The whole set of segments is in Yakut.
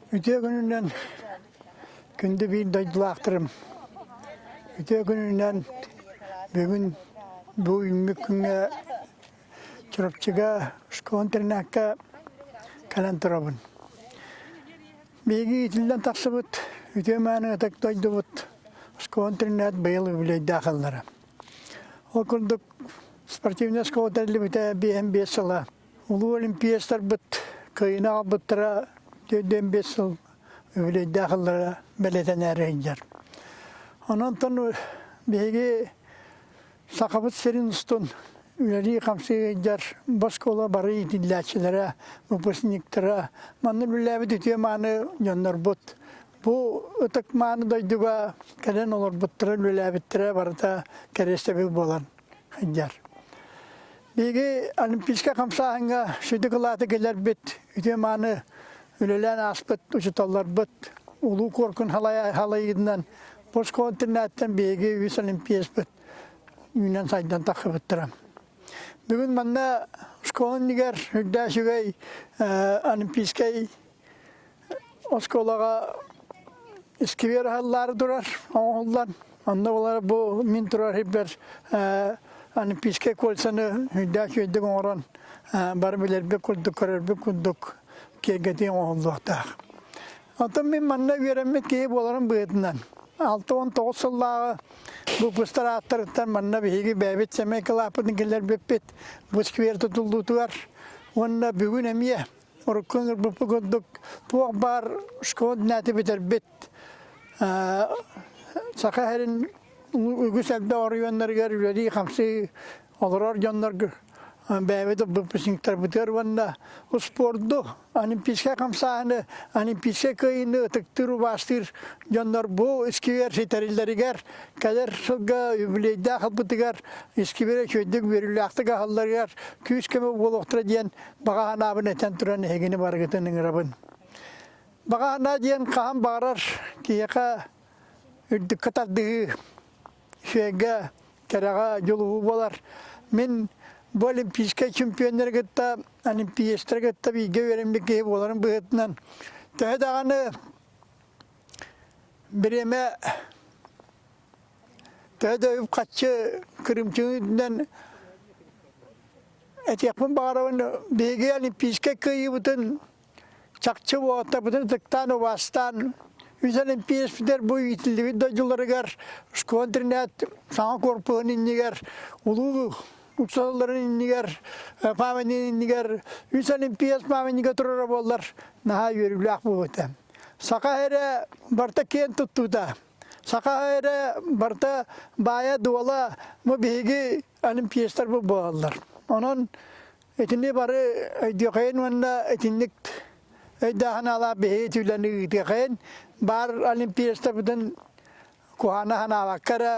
Үтүө күнүнэн күндү биир дойдулаахтарым, үтүө күнүнэн бүгүн бу үүммүт күҥҥэ Чурапчыга школ интернакка кэлэн турабын. Биһиги иитиллэн тахсыбыт үтүө мааны ытык дойдубут школ интернат быйыл үбүлүөйдээх Ол курдук спортивный школа тэриллибитэ биэһэн биэс сыла Улуу олимпиецтарбыт кыайыны аҕалбыттара түөртүөн биэс сыл үбүлүөйдээх ыллара бэлэтэнээри сылдьар. Онон биһиги Сахабыт сирин устун үлэлии-хамсыы сылдьар босхола бары иитиллээччилэрэ, выпускниктара, манна үлэлээбит үтүө-мааны дьоннорбут Бу ытык-мааны дойдуга кэлэн олорбуттара, үлэлээбиттэрэ барыта кэриэстэбил буолан сылдьар. Биһиги олимпийскай хамсааһыҥҥа сүдү кылааты кэлэрбит, үтүө-мааны үлэлээн ааспыт учууталларбыт улуу куоркун халайыытынан Боско интернаттан биһиги үс олимпиаспыт үүнэн сайдан тахсыбыттара. Бүгүн манна школа иннигэр үрдээс үгэй олимпийскай оскуолаҕа искибиэр аһыллаары турар оҥоһуллан онно олар бу мин турар хиппер олимпийскай кольцаны үйдээх үөдүк оҥорон бары билэрбит курдук көрөрбүт курдук киэргэтии оҥоһуллуохтаах оттон мин манна үөрэммит киһи буоларым быһыытынан алта уон тоҕус сыллааҕы выпустар ааттарыттан манна биһиги бэйэбит сэмэй кылааппытын киллэрбиппит бу сквер тутуллуутугар уонна бүгүн эмиэ Урукку ырбыппы курдук туох баар школа нэти бүтэрбит саха сэрин үгүс элбэ оройуоннарыгар үлэлии-хамсыы олорор дьоннорго бэйэбит ырбыппытыттарбытыар уонна успуорду олимпийскай хамсааһыны олимпийскай кыайыыны ытыктыыр убаастыыр дьоннор бу искибиэр ситэриллэригэр кэлэр сылга юбилейдаах ылбытыгар искибиэрэ үчүгэйдик үөрүүлээхтик аһалларыгар күүс-көмө буолуохтара диэн Баҕаһынаабын этэн туран эһигини барыгытын ыҥырабын. Баҕаһынаа диэн хаһан баҕарар киһиэхэ үрдүккэ тардыһыы, үчүгэйгэ, кэрэҕэ дьулуһуу буолар. Мин бу олимпийскай чемпионнары кытта, олимпиецтары кытта бииргэ үөрэммит киһи буоларын быһыытынан, төһө даҕаны бириэмэ Төһө да үп-харчы кырымчыгынан этиэхпин баҕарабын, биһиги Олимпийскай кыайыыбытын чахчы уолаттарбытын ытыктаан, убаастаан, үс олимпиецпитигэр бу иитиллибит дойдуларыгар, школ-интернат саҥа корпуһун иннигэр, улуу уксалларын иннигэр, памятнигын иннигэр, үс олимпиец памятнига турара буоллар наһаа үөрүүлээх буолуо этэ. Саха эрэ барыта киэн туттуута. Саха эрэ барта баайа-дуола бу биһиги олимпиецтар бу буолаллар. Онон итини бары өйдүөхэйин уонна итинник өйдөөһүналаах биһиги түүлэни ыытыахайын баар олимпиецтарбытын куһаана санаабакка эрэ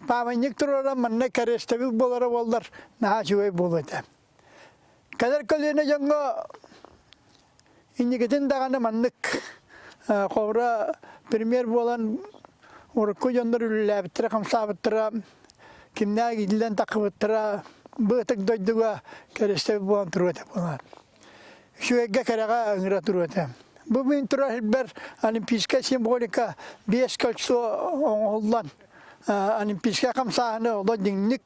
пааманньык туруоран манна кэриэстэбил буолара буоллар наһаа үчүгэй буолуо этэ. Кэлэр көлүөнэ дьоҥҥо инникитин даҕаны маннык холобура премьер буолан урукку дьоннор үлэлээбиттэрэ хамсаабыттара кимнээх иилэн таххыбыттара быытык дойдуга кэрэстэбил буолан туруо этэ буолан үчүгэйгэ кэрэҕэ ыҥыра туруо этэ бу мин турар сирбэр олимпийскай символика биэс кольцо оҥоһуллан олимпийскай хамсааһыны олох дьиҥник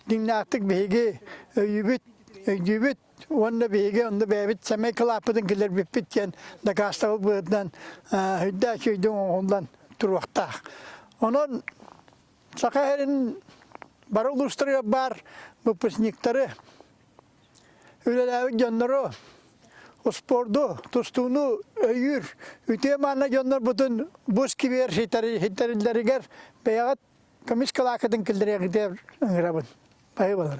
Дьиҥнээхтик биһиги өйүбүт, өйдүүбүт уонна биһиги онно бэйэбит сэмэй кылааппытын киллэрбиппит диэн дакаастабыл быһыытынан өйдөөх өйдөҥ оҥоһуллан туруохтаах. Онон Саха сирин бары улуустарыгар баар выпускниктары, үлэлээбит дьоннору, успуорду, тустууну өйүүр үтүө мааны дьоннорбутун бу сквер ситэриллэригэр бэйэҕит Көмүс кылаакытын киллэриэҕитэ ыҥырабын. Байы болар.